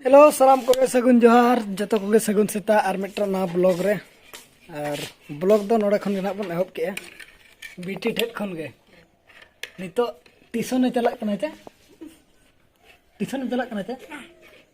hello ᱥᱟᱱᱟᱢ ᱠᱚᱜᱮ ᱥᱟᱹᱜᱩᱱ ᱡᱚᱦᱟᱨ ᱡᱚᱛᱚ ᱠᱚᱜᱮ ᱥᱟᱹᱜᱩᱱ ᱥᱮᱛᱟᱜ ᱟᱨ ᱢᱤᱫᱴᱟᱝ ᱱᱟᱣᱟ ᱵᱞᱚᱜ ᱨᱮ ᱟᱨ ᱵᱞᱚᱜ ᱫᱚ ᱱᱚᱰᱮ ᱠᱷᱚᱱ ᱜᱮ ᱱᱟᱦᱟᱜ ᱵᱚᱱ ᱮᱦᱚᱵ ᱠᱮᱜᱼᱟ ᱵᱤᱴᱤ ᱴᱷᱮᱡ ᱠᱷᱚᱱ ᱜᱮ ᱱᱤᱛᱚᱜ ᱴᱤᱭᱩᱥᱚᱱᱮ ᱪᱟᱞᱟᱜ ᱠᱟᱱᱟ ᱪᱮ ᱴᱤᱭᱩᱥᱚᱱᱮ ᱪᱟᱞᱟᱜ ᱠᱟᱱᱟ ᱪᱮ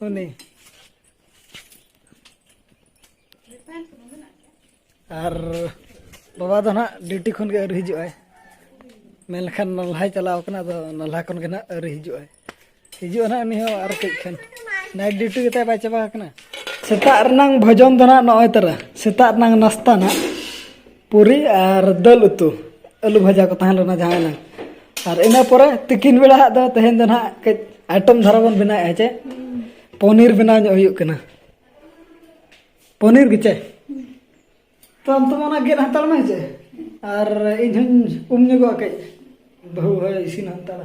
ᱩᱱᱤ ᱟᱨ ᱵᱟᱵᱟ ᱫᱚ ᱱᱟᱦᱟᱜ ᱰᱤᱭᱩᱴᱤ ᱠᱷᱚᱱ ᱜᱮ ᱟᱹᱣᱨᱤ ᱦᱤᱡᱩᱜ ᱟᱭ ᱢᱮᱱ ᱞᱮᱠᱷᱟᱱ ᱱᱟᱞᱦᱟᱭ ᱪᱟᱞᱟᱣ ᱠᱟᱱᱟ ᱟᱫᱚ ᱱᱟᱞᱦᱟ ᱠᱷᱚᱱ ᱜᱮ ᱱᱟᱦᱟᱜ ᱟᱹᱣᱨᱤ ᱦᱤᱡᱩᱜ ᱟᱭ ᱦᱤᱡᱩᱜᱼᱟ ᱱᱟᱦᱟᱜ ᱩᱱᱤ ᱦᱚᱸ ᱟᱨ ᱠᱟᱹᱡ ᱠᱷᱟᱱ ᱱᱟᱭᱤᱴ ᱰᱤᱭᱩᱴᱤ ᱜᱮᱛᱟᱭ ᱵᱟᱭ ᱪᱟᱵᱟ ᱟᱠᱟᱱᱟ ᱥᱮᱛᱟᱜ ᱨᱮᱱᱟᱝ ᱵᱷᱚᱡᱚᱱ ᱫᱚ ᱱᱟᱦᱟᱜ ᱱᱚᱜᱼᱚᱭ ᱛᱟᱨᱟ ᱥᱮᱛᱟᱜ ᱨᱮᱱᱟᱝ ᱱᱟᱥᱛᱟ ᱱᱟᱦᱟᱜ ᱯᱩᱨᱤ ᱟᱨ ᱫᱟᱹᱞ ᱩᱛᱩ ᱟᱹᱞᱩ ᱵᱷᱟᱡᱟ ᱠᱚ ᱛᱟᱦᱮᱸ ᱞᱮᱱᱟ ᱡᱟᱦᱟᱸ ᱮᱱᱟᱝ ᱟᱨ ᱤᱱᱟᱹ ᱯᱚᱨᱮ ᱛᱤᱠᱤᱱ ᱵᱮᱲᱟ ᱦᱟᱸᱜ ᱫᱚ ᱛᱮᱦᱮᱧ ᱫᱚ ᱱᱟᱦᱟᱜ ᱠᱟᱹᱡ ᱟᱭᱴᱚᱢ ᱫᱷᱟᱨᱟ ᱵᱚᱱ ᱵᱮᱱᱟᱣᱮᱫᱼᱟ ᱪᱮ ᱯᱚᱱᱤᱨ ᱵᱮᱱᱟᱣ ᱧᱚᱜ ᱦᱩᱭᱩᱜ ᱠᱟᱱᱟ ᱯᱚᱱᱤᱨ ᱜᱮ ᱪᱮ ᱛᱚ ᱟᱢ ᱛᱚ ᱚᱱᱟ ᱜᱮᱫ ᱦᱟᱛᱟᱲ ᱢᱮ ᱪᱮ ᱟᱨ ᱤᱧ ᱦᱚᱧ ᱩᱢ ᱧᱚᱜᱚᱜᱼᱟ ᱠᱟᱹᱡ ᱵᱟᱹᱦᱩ ᱦᱚᱸ ᱤᱥᱤᱱ ᱦᱟᱛᱟᱲᱟ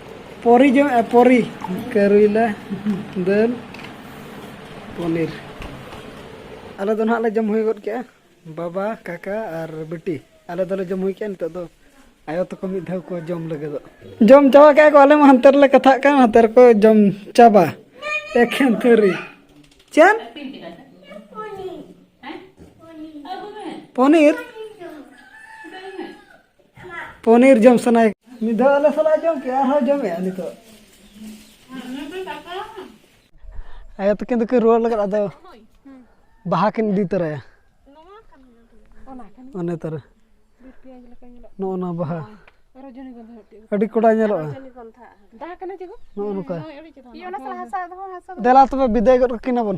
ᱯᱚᱨᱤ ᱡᱚᱢ ᱯᱚᱨᱤ ᱠᱟᱹᱨᱩᱭᱞᱟ ᱫᱟᱹᱞ ᱯᱚᱱᱤᱨ ᱟᱞᱮ ᱫᱚ ᱱᱟᱦᱟᱜ ᱞᱮ ᱡᱚᱢ ᱦᱩᱭ ᱜᱚᱫ ᱠᱮᱜᱼᱟ ᱵᱟᱵᱟ ᱠᱟᱠᱟ ᱟᱨ ᱵᱤᱴᱤ ᱟᱞᱮ ᱫᱚᱞᱮ ᱡᱚᱢ ᱦᱩᱭ ᱠᱮᱜᱼᱟ ᱱᱤᱛᱚᱜ ᱫᱚ ᱟᱭᱳ ᱛᱟᱠᱚ ᱢᱤᱫ ᱫᱷᱟᱣ ᱠᱚ ᱡᱚᱢ ᱞᱟᱹᱜᱤᱫᱚᱜ ᱡᱚᱢ ᱪᱟᱵᱟ ᱠᱮᱜᱼᱟ ᱠᱚ ᱟᱞᱮ ᱢᱟ ᱦᱟᱱᱛᱮ ᱨᱮᱞᱮ ᱠᱟᱛᱷᱟᱜ ᱠᱟᱱ ᱦᱟᱱᱛᱮ ᱨᱮᱠᱚ ᱡᱚᱢ ᱪᱟᱵᱟ ᱮᱠᱷᱮᱱ ᱛᱷᱟᱹᱨᱤ ᱪᱮᱫ ᱯᱚᱱᱤᱨ ᱯᱚᱱᱤᱨ ᱡᱚᱢ ᱥᱟᱱᱟᱭ ᱢᱤᱫ ᱫᱷᱟᱣ ᱟᱞᱮ ᱥᱟᱞᱟᱜ ᱡᱚᱢ ᱠᱮᱫ ᱟᱨᱦᱚᱸ ᱡᱚᱢᱮᱫᱼᱟ ᱱᱤᱛᱚᱜ ᱟᱭᱳ ᱛᱟᱹᱠᱤᱱ ᱫᱚᱠᱤᱱ ᱨᱩᱣᱟᱹᱲ ᱞᱟᱹᱜᱤᱫ ᱟᱫᱚ ᱵᱟᱦᱟ ᱠᱤᱱ ᱤᱫᱤ ᱛᱚᱨᱟᱭᱟ ᱚᱱᱮ ᱛᱚᱨᱟ ᱱᱚᱜᱼᱚ ᱱᱚᱣᱟ ᱵᱟᱦᱟ ᱟᱹᱰᱤ ᱠᱚᱰᱟ ᱧᱮᱞᱚᱜᱼᱟ ᱱᱚᱜᱼᱚ ᱱᱚᱝᱠᱟ ᱫᱮᱞᱟ ᱛᱚᱵᱮ ᱵᱤᱫᱟᱹᱭ ᱜᱚᱫ ᱠᱟᱹᱠᱤᱱᱟ ᱵᱚᱱ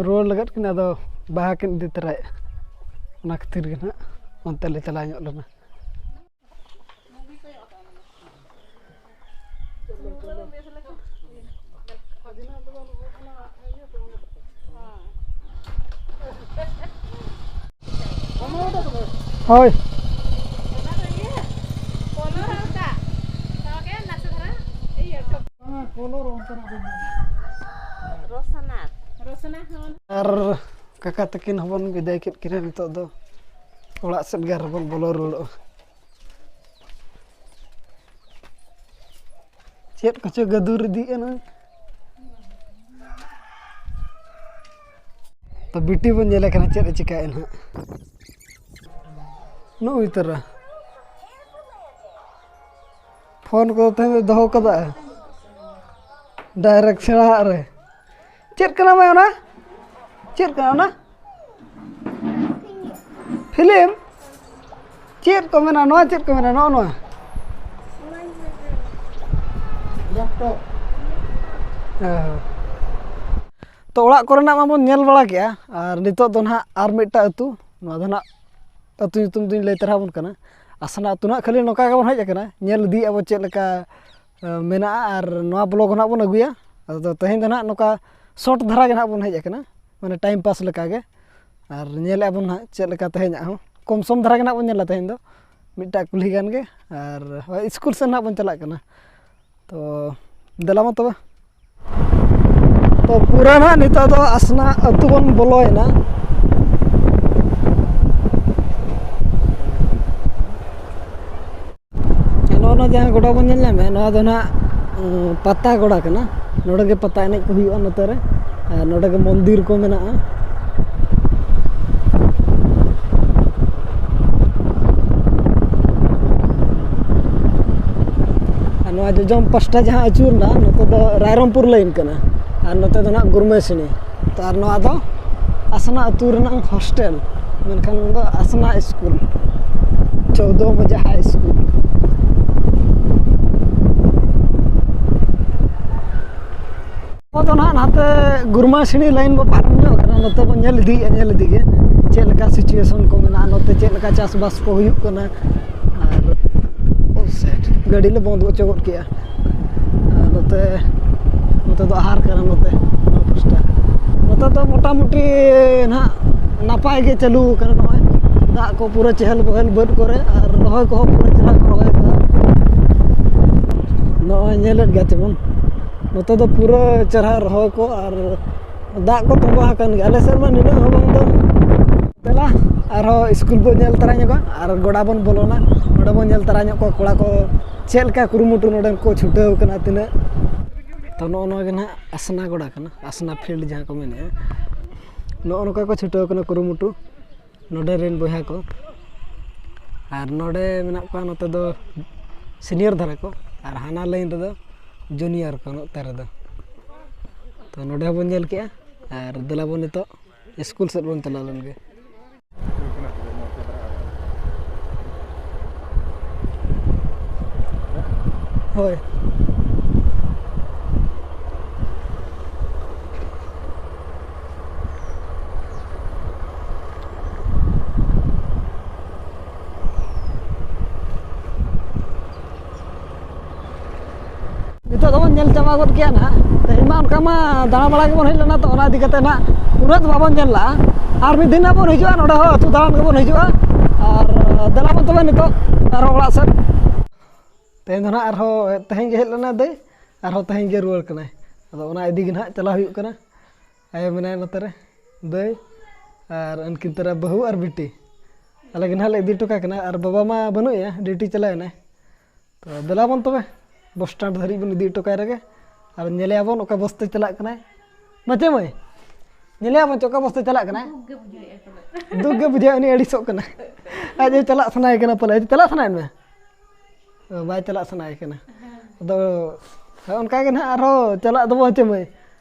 ᱨᱩᱣᱟᱹᱲ ᱞᱟᱜᱟᱫ ᱠᱤᱱ ᱟᱫᱚ ᱵᱟᱦᱟ ᱠᱤᱱ ᱤᱫᱤ ᱛᱚᱨᱟᱭᱮᱜᱼᱟ ᱚᱱᱟ ᱠᱷᱟᱹᱛᱤᱨ ᱜᱮ ᱦᱟᱸᱜ ᱚᱱᱛᱮ ᱞᱮ ᱪᱟᱞᱟᱣ ᱧᱚᱜ ᱞᱮᱱᱟ ᱦᱳᱭ ᱟᱨ ᱠᱟᱠᱟ ᱛᱟᱹᱠᱤᱱ ᱦᱚᱸᱵᱚᱱ ᱵᱤᱫᱟᱭ ᱠᱮᱫ ᱠᱤᱱᱟ ᱱᱤᱛᱚᱜ ᱫᱚ ᱚᱲᱟᱜ ᱥᱮᱫ ᱜᱮ ᱟᱨᱦᱚᱸ ᱵᱚᱱ ᱵᱚᱞᱚ ᱨᱩᱣᱟᱹᱲᱚᱜᱼᱟ ᱪᱮᱫ ᱠᱚᱪᱚ ᱜᱟᱹᱫᱩᱨ ᱤᱫᱤᱜ ᱟᱱᱟ ᱛᱚ ᱵᱤᱴᱤ ᱵᱚᱱ ᱧᱮᱞᱮ ᱠᱟᱱᱟ ᱪᱮᱫ ᱮ ᱪᱤᱠᱟᱹᱭᱮᱫ ᱱᱟᱦᱟᱜ ᱱᱚᱜᱼᱚᱭ ᱛᱚᱨᱟ ᱯᱷᱳᱱ ᱠᱚ ᱛᱮᱦᱮᱧ ᱫᱚᱭ ᱫᱚᱦᱚ ᱠᱟᱫᱟ ᱰᱟᱭᱨᱮᱠᱴ ᱥᱮᱬᱟᱣᱟᱜ ᱨᱮ ᱪᱮᱫ ᱠᱟᱱᱟ ᱢᱟᱹᱭ ᱚᱱᱟ ᱪᱮᱫ ᱠᱟᱱᱟ ᱚᱱᱟ ᱯᱷᱤᱞᱤᱢ ᱪᱮᱫ ᱠᱚ ᱢᱮᱱᱟ ᱱᱚᱣᱟ ᱪᱮᱫ ᱠᱚ ᱢᱮᱱᱟ ᱱᱚᱜᱼᱚ ᱱᱚᱣᱟ ᱞᱮᱯᱴᱚᱯ ᱛᱚ ᱚᱲᱟᱜ ᱠᱚᱨᱮᱱᱟᱜ ᱢᱟᱵᱚᱱ ᱧᱮᱞ ᱵᱟᱲᱟ ᱠᱮᱜᱼᱟ ᱟᱨ ᱱᱤᱛᱚᱜ ᱫᱚ ᱱᱟᱦᱟᱜ ᱟᱨ ᱢᱤᱫᱴᱟᱝ ᱟᱹᱛᱩ ᱱᱚᱣᱟ ᱫᱚ ᱱᱟᱦᱟᱜ ᱟᱹᱛᱩ ᱧᱩᱛᱩᱢ ᱫᱚᱧ ᱞᱟᱹᱭ ᱛᱟᱨᱟ ᱟᱵᱚᱱ ᱠᱟᱱᱟ ᱟᱥᱱᱟ ᱟᱹᱛᱩ ᱱᱟᱦᱟᱜ ᱠᱷᱟᱹᱞᱤ ᱱᱚᱝᱠᱟ ᱜᱮᱵᱚᱱ ᱦᱮᱡ ᱟᱠᱟᱱᱟ ᱧᱮᱞ ᱤᱫᱤᱭᱮᱫᱼᱟ ᱵᱚᱱ ᱪᱮᱫ ᱞᱮᱠᱟ ᱢᱮᱱᱟᱜᱼᱟ ᱟᱨ ᱱᱚᱣᱟ ᱵᱞᱚᱠ ᱦᱚᱸ ᱱᱟᱦᱟᱜ ᱵᱚᱱ ᱟᱹᱜᱩᱭᱟ ᱟᱫᱚ ᱛᱮᱦᱮᱧ ᱫᱚ ᱱᱟᱦᱟᱜ ᱱᱚᱝᱠᱟ ᱥᱚᱨᱴ ᱫᱷᱟᱨᱟ ᱜᱮ ᱱᱟᱦᱟᱜ ᱵᱚᱱ ᱦᱮᱡ ᱟᱠᱟᱱᱟ ᱢᱟᱱᱮ ᱴᱟᱭᱤᱢ ᱯᱟᱥ ᱞᱮᱠᱟᱜᱮ ᱟᱨ ᱧᱮᱞᱮᱫᱼᱟ ᱵᱚᱱ ᱱᱟᱦᱟᱜ ᱪᱮᱫ ᱞᱮᱠᱟ ᱛᱮᱦᱮᱧᱟᱜ ᱦᱚᱸ ᱠᱚᱢ ᱥᱚᱢ ᱫᱷᱟᱨᱟ ᱜᱮ ᱱᱟᱦᱟᱜ ᱵᱚᱱ ᱧᱮᱞᱟ ᱛᱮᱦᱮᱧ ᱫᱚ ᱢᱤᱫᱴᱟᱜ ᱠᱩᱞᱦᱤ ᱜᱟᱱ ᱜᱮ ᱟᱨ ᱦᱳᱭ ᱥᱠᱩᱞ ᱥᱮᱫ ᱱᱟᱦᱟᱜ ᱵᱚᱱ ᱪᱟᱞᱟᱜ ᱠᱟᱱᱟ ᱛᱚ ᱫᱮᱞᱟ ᱢᱟ ᱛᱚᱵᱮ ᱛᱚ ᱯᱩᱨᱟᱹ ᱱᱟᱦᱟᱜ ᱱᱤᱛᱚᱜ ᱫᱚ ᱟᱥᱱᱟ ᱟᱹᱛᱩ ᱵᱚᱱ ᱵᱚᱞᱚᱭᱮᱱᱟ ᱱᱚᱜᱼᱚ ᱱᱚᱣᱟ ᱡᱟᱦᱟᱸ ᱜᱚᱰᱟ ᱵᱚᱱ ᱧᱮᱞ ᱧᱟᱢᱮᱫᱼᱟ ᱱᱚᱣᱟ ᱫᱚ ᱱᱟᱦᱟᱜ ᱯᱟᱛᱟ ᱜᱚᱰᱟ ᱠᱟᱱᱟ ᱱᱚᱰᱮ ᱜᱮ ᱯᱟᱛᱟ ᱮᱱᱮᱡ ᱠᱚ ᱦᱩᱭᱩᱜᱼᱟ ᱱᱚᱛᱮ ᱨᱮ ᱟᱨ ᱱᱚᱰᱮ ᱜᱮ ᱢᱚᱱᱫᱤᱨ ᱠᱚ ᱢᱮᱱᱟᱜᱼᱟ ᱱᱚᱣᱟ ᱡᱚᱡᱚᱢ ᱯᱟᱥᱴᱟ ᱡᱟᱦᱟᱸ ᱟᱹᱪᱩᱨᱱᱟ ᱱᱚᱛᱮ ᱫᱚ ᱨᱟᱭᱨᱚᱝᱯᱩᱨ ᱞᱟᱹᱭᱤᱱ ᱠᱟᱱᱟ ᱟᱨ ᱱᱚᱛᱮ ᱫᱚ ᱦᱟᱸᱜ ᱜᱩᱨᱢᱟᱹᱥᱤᱱᱤ ᱛᱚ ᱟᱨ ᱱᱚᱣᱟ ᱫᱚ ᱟᱥᱱᱟ ᱟᱹᱛᱩ ᱨᱮᱱᱟᱜ ᱦᱳᱥᱴᱮᱞ ᱢᱮᱱᱠᱷᱟᱱ ᱱᱚᱣᱟ ᱫᱚ ᱟᱥᱱᱟ ᱥᱠᱩᱞ ᱪᱳᱣᱫᱚ ᱵᱚᱡᱮ ᱦᱟᱭ ᱥᱠᱩᱞ ᱱᱚᱣᱟ ᱫᱚ ᱱᱟᱦᱟᱜ ᱱᱟᱛᱮ ᱜᱩᱨᱢᱟᱹᱥᱤᱱᱤ ᱞᱟᱭᱤᱱ ᱵᱚᱱ ᱯᱟᱨᱚᱢ ᱧᱚᱜ ᱠᱟᱱᱟ ᱱᱚᱛᱮ ᱵᱚᱱ ᱧᱮᱞ ᱤᱫᱤᱭᱮᱫᱼᱟ ᱧᱮᱞ ᱤᱫᱤ ᱜᱮ ᱪᱮᱫ ᱞᱮᱠᱟ ᱥᱤᱪᱩᱭᱮᱥᱚᱱ ᱠᱚ ᱢᱮᱱᱟᱜᱼᱟ ᱱᱚᱛᱮ ᱪᱮᱫ ᱞᱮᱠᱟ ᱪᱟᱥᱵᱟᱥ ᱠᱚ ᱦᱩᱭᱩᱜ ᱠᱟᱱᱟ ᱟᱨ ᱜᱟᱹᱰᱤ ᱞᱮ ᱵᱚᱱᱫᱚ ᱦᱚᱪᱚ ᱜᱚᱫ ᱠᱮᱫᱼᱟ ᱟᱨ ᱱᱚᱛᱮ ᱱᱚᱛᱮ ᱫᱚ ᱟᱦᱟᱨ ᱠᱟᱱᱟ ᱱᱚᱛᱮ ᱱᱚᱣᱟ ᱯᱟᱥᱴᱟ ᱱᱚᱛᱮ ᱫᱚ ᱢᱳᱴᱟᱢᱩᱴᱤ ᱱᱟᱦᱟᱜ ᱱᱟᱯᱟᱭ ᱜᱮ ᱪᱟᱹᱞᱩ ᱠᱟᱱᱟ ᱱᱚᱜᱼᱚᱭ ᱫᱟᱜ ᱠᱚ ᱯᱩᱨᱟᱹ ᱪᱮᱦᱮᱞ ᱵᱮᱦᱮᱞ ᱵᱟᱹᱫᱽ ᱠᱚᱨᱮ ᱟᱨ ᱨᱚᱦᱚᱭ ᱠᱚᱦᱚᱸ ᱯᱩᱨᱟᱹ ᱪᱮᱦᱨᱟ ᱠᱚ ᱨᱚᱦᱚᱭ ᱠᱟᱫᱟ ᱱᱚᱜᱼᱚᱭ ᱧᱮᱞᱮᱫ ᱜᱮᱭᱟ ᱪᱮᱵᱚᱱ ᱱᱚᱛᱮ ᱫᱚ ᱯᱩᱨᱟᱹ ᱪᱮᱦᱨᱟ ᱨᱚᱦᱚᱭ ᱠᱚ ᱟᱨ ᱫᱟᱜ ᱠᱚ ᱛᱚᱸᱵᱟ ᱟᱠᱟᱱ ᱜᱮᱭᱟ ᱟᱞᱮ ᱥᱮᱫ ᱢᱟ ᱱᱤᱱᱟᱹᱜ ᱦᱚᱸ ᱵᱟᱝ ᱫᱚ ᱫᱮᱞᱟ ᱟᱨᱦᱚᱸ ᱤᱥᱠᱩᱞ ᱵᱚᱱ ᱧᱮᱞ ᱛᱚᱨᱟ ᱧᱚᱜᱟ ᱟᱨ ᱜᱚᱰᱟ ᱵᱚᱱ ᱵᱚᱞᱚᱱᱟ ᱜᱚᱰᱟ ᱵᱚᱱ ᱧᱮᱞ ᱛᱚᱨᱟ ᱧᱚᱜ ᱠᱚᱣᱟ ᱠᱚᱲᱟ ᱠᱚ ᱪᱮᱫ ᱞᱮᱠᱟ ᱠᱩᱨᱩᱢᱩᱴᱩ ᱱᱚᱰᱮ ᱠᱚ ᱪᱷᱩᱴᱟᱹᱣ ᱠᱟᱱᱟ ᱛᱤᱱᱟᱹᱜ ᱛᱳ ᱱᱚᱜᱼᱚ ᱱᱚᱣᱟᱜᱮ ᱦᱟᱸᱜ ᱟᱥᱱᱟ ᱜᱚᱰᱟ ᱠᱟᱱᱟ ᱟᱥᱱᱟ ᱯᱷᱤᱞᱰ ᱡᱟᱦᱟᱸ ᱠᱚ ᱢᱮᱱᱮᱜᱼᱟ ᱱᱚᱜᱼᱚ ᱱᱚᱝᱠᱟ ᱠᱚ ᱪᱷᱩᱴᱟᱹᱣ ᱠᱟᱱᱟ ᱠᱩᱨᱩᱢᱩᱴᱩ ᱱᱚᱰᱮ ᱨᱮᱱ ᱵᱚᱭᱦᱟ ᱠᱚ ᱟᱨ ᱱᱚᱰᱮ ᱢᱮᱱᱟᱜ ᱠᱚᱣᱟ ᱱᱚᱛᱮ ᱫᱚ ᱥᱤᱱᱤᱭᱟᱨ ᱫᱷᱟᱨᱟ ᱠᱚ ᱟᱨ ᱦᱟᱱᱟ ᱞᱟᱭᱤᱱ ᱨᱮᱫᱚ ᱡᱩᱱᱤᱭᱟᱨ ᱠᱚ ᱱᱚᱛᱮ ᱨᱮᱫᱚ ᱛᱚ ᱱᱚᱰᱮ ᱦᱚᱸᱵᱚᱱ ᱧᱮᱞ ᱠᱮᱜᱼᱟ ᱟᱨ ᱫᱮᱞᱟ ᱵᱚᱱ ᱱᱤᱛᱚᱜ ᱥᱠᱩᱞ ᱥᱮᱫ ᱵᱚᱱ ᱪᱟᱞᱟᱣ ᱞᱮᱱᱜᱮ ᱦᱳᱭ ᱱᱤᱛᱚᱜ ᱫᱚᱵᱚᱱ ᱧᱮᱞ ᱪᱟᱵᱟ ᱜᱚᱫ ᱠᱮᱜᱼᱟ ᱱᱟᱦᱟᱜ ᱛᱮᱦᱮᱧ ᱢᱟ ᱚᱱᱠᱟ ᱢᱟ ᱫᱟᱬᱟ ᱵᱟᱲᱟ ᱜᱮᱵᱚᱱ ᱦᱮᱡ ᱞᱮᱱᱟ ᱛᱚ ᱚᱱᱟ ᱤᱫᱤ ᱠᱟᱛᱮ ᱱᱟᱦᱟᱜ ᱩᱱᱟᱹᱜ ᱫᱚ ᱵᱟᱵᱚᱱ ᱧᱮᱞ ᱞᱟᱜᱼᱟ ᱟᱨ ᱢᱤᱫ ᱫᱤᱱ ᱱᱟᱦᱟᱜ ᱵᱚᱱ ᱦᱤᱡᱩᱜᱼᱟ ᱱᱚᱰᱮ ᱦᱚᱸ ᱟᱹᱛᱩ ᱫᱟᱬᱟᱱ ᱜᱮᱵᱚᱱ ᱦᱤᱡᱩᱜᱼᱟ ᱟᱨ ᱫᱮᱞᱟ ᱵᱚᱱ ᱛᱚᱵᱮ ᱱᱤᱛᱚᱜ ᱟᱨᱦᱚᱸ ᱚᱲᱟᱜ ᱥᱮᱫ ᱛᱮᱦᱮᱧ ᱫᱚ ᱱᱟᱦᱟᱜ ᱟᱨᱦᱚᱸ ᱛᱮᱦᱮᱧ ᱜᱮ ᱦᱮᱡ ᱞᱮᱱᱟᱭ ᱫᱟᱹᱭ ᱟᱨᱦᱚᱸ ᱛᱮᱦᱮᱧ ᱜᱮ ᱨᱩᱣᱟᱹᱲ ᱠᱟᱱᱟᱭ ᱟᱫᱚ ᱚᱱᱟ ᱤᱫᱤ ᱜᱮ ᱱᱟᱦᱟᱜ ᱪᱟᱞᱟᱣ ᱦᱩᱭᱩᱜ ᱠᱟᱱᱟ ᱟᱭᱳ ᱢᱮᱱᱟᱭᱟ ᱱᱚᱛᱮ ᱨᱮ ᱫᱟᱹᱭ ᱟᱨ ᱩᱱᱠᱤᱱ ᱛᱚᱨᱟ ᱵᱟᱹᱦᱩ ᱟᱨ ᱵᱤᱴᱤ ᱟᱞᱮ ᱜᱮ ᱱᱟᱦᱟᱸᱜ ᱞᱮ ᱤᱫᱤ ᱦᱚᱴᱚ ᱠᱟᱠᱤᱱᱟ ᱟᱨ ᱵᱟᱵᱟ ᱢᱟ ᱵᱟᱹᱱᱩᱜ ᱮᱭᱟ ᱰᱤᱭᱩᱴᱤ ᱪᱟᱞᱟᱣ ᱮᱱᱟᱭ ᱛᱚ ᱫᱮᱞᱟ ᱵᱚᱱ ᱛᱚᱵᱮ ᱵᱚᱥ ᱥᱴᱮᱱᱰ ᱫᱷᱟᱹᱨᱤᱡ ᱵᱚᱱ ᱤᱫᱤ ᱦᱚᱴᱚ ᱠᱟᱭ ᱨᱮᱜᱮ ᱟᱨ ᱧᱮᱞᱮᱭᱟ ᱵᱚᱱ ᱚᱠᱟ ᱵᱚᱥ ᱛᱮ ᱪᱟᱞᱟᱜ ᱠᱟᱱᱟᱭ ᱵᱟᱪᱮ ᱢᱟᱹᱭ ᱧᱮᱞᱮᱭᱟ ᱵᱚᱱ ᱪᱮ ᱚᱠᱟ ᱵᱚᱥ ᱛᱮ ᱪᱟᱞᱟᱜ ᱠᱟᱱᱟᱭ ᱫᱩᱠ ᱜᱮ ᱵᱩᱡᱷᱟᱹᱜᱼᱟ ᱩᱱᱤ ᱟᱹᱲᱤᱥᱚᱜ ᱠᱟᱱᱟ ᱟᱡ ᱦᱚᱸ ᱪᱟᱞᱟᱜ ᱥᱟᱱᱟᱭᱮ ᱠᱟᱱᱟ ᱯᱟᱞᱮ ᱟᱡ ᱪᱟᱞᱟᱜ ᱥᱟᱱᱟᱭᱮᱫ ᱢᱮᱭᱟ ᱚ, ᱵᱟᱭ ᱪᱟᱞᱟᱜ ᱥᱟᱱᱟᱭᱮ ᱠᱟᱱᱟ ᱟᱫᱚ ᱦᱳᱭ ᱚᱱᱠᱟ ᱜᱮ ᱱᱟᱦᱟᱸᱜ ᱟᱨᱦᱚᱸ ᱪᱟᱞᱟᱜ ᱫᱚᱵᱚ ᱦᱮᱸᱪᱮ ᱢᱟᱹᱭ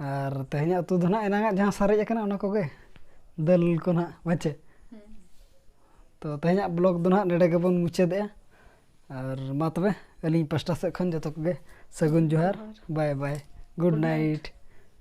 ᱟᱨ ᱛᱮᱦᱮᱧᱟᱜ ᱩᱛᱩ ᱫᱚ ᱱᱟᱦᱟᱜ ᱮᱱᱟᱝᱟᱜ ᱡᱟᱦᱟᱸ ᱥᱟᱨᱮᱡ ᱟᱠᱟᱱᱟ ᱚᱱᱟ ᱠᱚᱜᱮ ᱫᱟᱹᱞ ᱠᱚ ᱱᱟᱦᱟᱜ ᱵᱟᱪᱮ ᱛᱚ ᱛᱮᱦᱮᱧᱟᱜ ᱵᱞᱚᱜᱽ ᱫᱚ ᱱᱟᱦᱟᱜ ᱱᱚᱰᱮ ᱜᱮᱵᱚᱱ ᱢᱩᱪᱟᱹᱫᱮᱜᱼᱟ ᱟᱨ ᱢᱟ ᱛᱚᱵᱮ ᱟᱹᱞᱤᱧ ᱯᱟᱥᱴᱟ ᱥᱮᱫ ᱠᱷᱚᱱ ᱡᱚᱛᱚ ᱠᱚᱜᱮ ᱥᱟᱹᱜᱩᱱ ᱡᱚᱦᱟᱨ ᱵᱟᱭ ᱵᱟᱭ ᱜᱩᱰ ᱱᱟᱭᱤᱴ